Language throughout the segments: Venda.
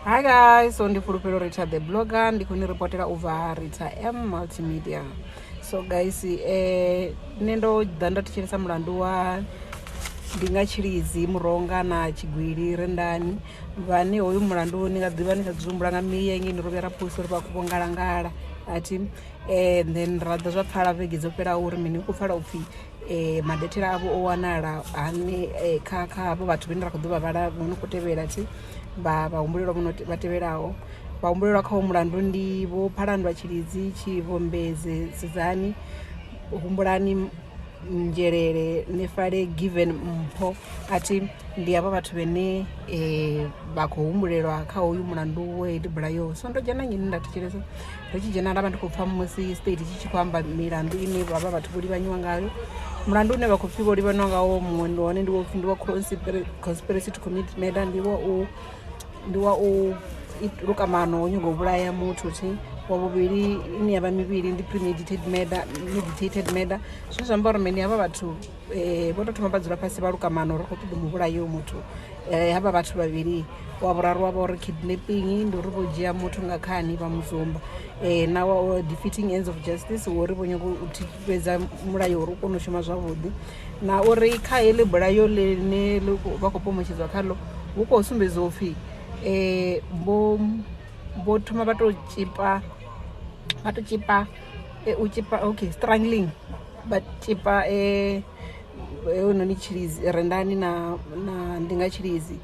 hi guys so ndi fhulufhelo rita the blogger ndi khou ni reportela u bva rita m multimedia so guys eh, nṋe ndo ḓa nda thetshelesa mulandu wa ndi nga tshilidzi muronga na tshigwili rendani vhane hoyu mulandu ni nga ḓivha ni sa dzumbula nga miya ngei ni rovhuya ra pholisa uri vha khou vhongalangala athi um then ra ḓa zwa pfala vhege dzo fhelaho uri mini u khou pfala upfhi um maḓethela avho o wanala hani kha kha havho vhathu vhane ra khou ḓo vha vhala vho no khou tevhela thi vha vhahumbulelwa vho no vha tevhelaho vhahumbulelwa kha hoyu mulandu ndi vho phalandwa tshilidzi tshivhombedzi sidzani humbulani nzhelele nefale given mpho a thi ndi havha vhathu vhane um vha khou humbulelwa kha hoyu mulandu wa heyi tibula yo so ndo dzhena nnyini nda thetshelesa ri tshi dzhena nda vha ndi khou pfha musi state tshi tshi khou amba milandu ine vha vha vhathu vho livhanyiwa ngayo mulandu une vha khou pfhi vho livhanywa ngawo muṅwe ndi hone ndi wopfhi ndi wa conspiracy to commit murder ndi wa u ndi wa u lukamano o nyago u vhulaya muthu thi wa vhuvhili ine ya vha mivhili ndi premeditated murder meditated murder zwine zwi amba uri mini havha vhathu Eh, vho to thoma vha dzula fhasi vha luka mano uri khou ṱoḓa mu vhulayo muthu eh, havha vhathu vhavhili wa vhuraru wa vha uri kidnapping ndi uri vho dzhia muthu nga khani vha muzumba um eh, na wa defeating ends of justice wori vho nyago u thifhedza mulayo uri u kone u shuma zwavhuḓi na uri kha heḽi bulayo ḽine vha khou pomotshedzwa khaḽo hu khou sumbedza u pfhi um vho thoma vha to tshipa vha to tshipa e u tshipa okay struggling but tshipa e heinoni tshilidzi rendani na na ndi nga tshilidzi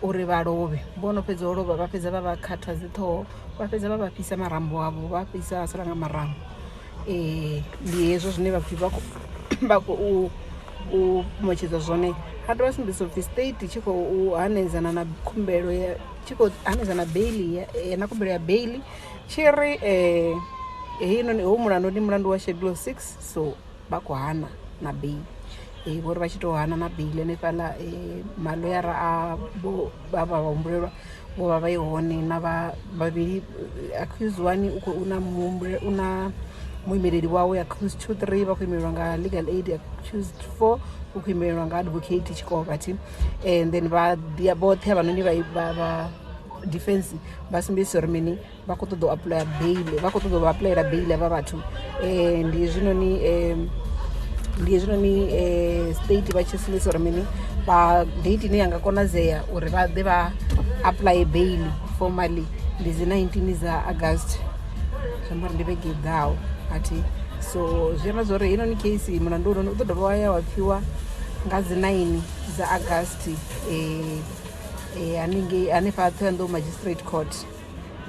uri vha lovhe vho no fhedza u lovha vha fhedza vha vha khatha dzi ṱhoho vha fhedza vha vha fhisa marambo avho vha fhisa a sala nga marambo um ndi hezwo zwine vhapfi vha khou vha khou u fhumotshedza zwone ha dovha sumbedzisa upfhi state tshi khou hanedzana na khumbelo ya tshi khou hanedzana beili na khumbelo ya beili tshi ri um heinoni hou mulandu ndi mulandu wa schedule six so vha khou hana na bail um vho ri vha tshi tou hana na bail hanefhaḽa um maloyara a vho vha vha humbulelwa vho vha vha i hone na vha vhavhili accuse one u khou na muhumbule u na muimeleli wawe accuse two three vha khou imelelwa nga legal aid accuse four u khou imelelwa nga advocate tshikovha thi and then vha ḓia vhoṱhe havhanoni vha vha defense vha sumbedzisa uri mini vha khou ṱoḓa u apuḽaya bail vha khou ṱoḓa u vha apuḽayela bail avha vhathu um ndi hezwinoni um ndi hezwinoni um state vha tshi sumbedzisa uri mini vha date ine ya nga konadzea uri vha ḓe vha apuḽaye bail formally ndi dzi nineteen dza august zwi amba uri ndi vhege i ḓaho athi so zwi amba zwa uri heinoni case mulandu u noni u ḓo dovha wa ya wa pfhiwa nga dzi nine dza august um eh, haningei hanefha a thoyandou magistrate court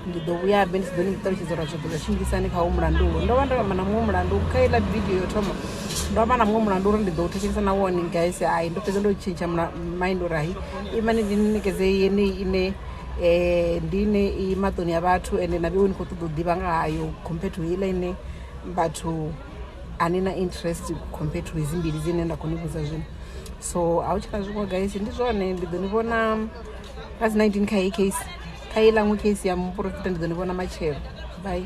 ndi ḓo vhuya be ndi si ḓo ni ṱalutshedza uri zwa ḓo ḽa tshimbilisani kha wo mulandu ulo ndo vha ndo amba na muṅwe mulandu kha iḽa vidio yo thoma ndo amba na muṅwe mulandu uri ndi ḓo u thetshelesa na wone guys hai ndo fhedza ndo tshintsha mind uri hai imani ndi ni nekedze yeneyi ine um ndi ine i maṱoni ya vhathu ende na vhewe ni khou ṱoḓa u ḓivha nga hayo compared to iḽa ine vhathu ani na interest compared to hedzi mbili dzine nda khou ni vhudza zwino so a hu tshina zwiṅwe guys ndi zwone ndi ḓo ni vhona nga dzi 19 kha heyi case kha i laṅwe case ya muporofita ndi ḓo ni vhona matshelo bye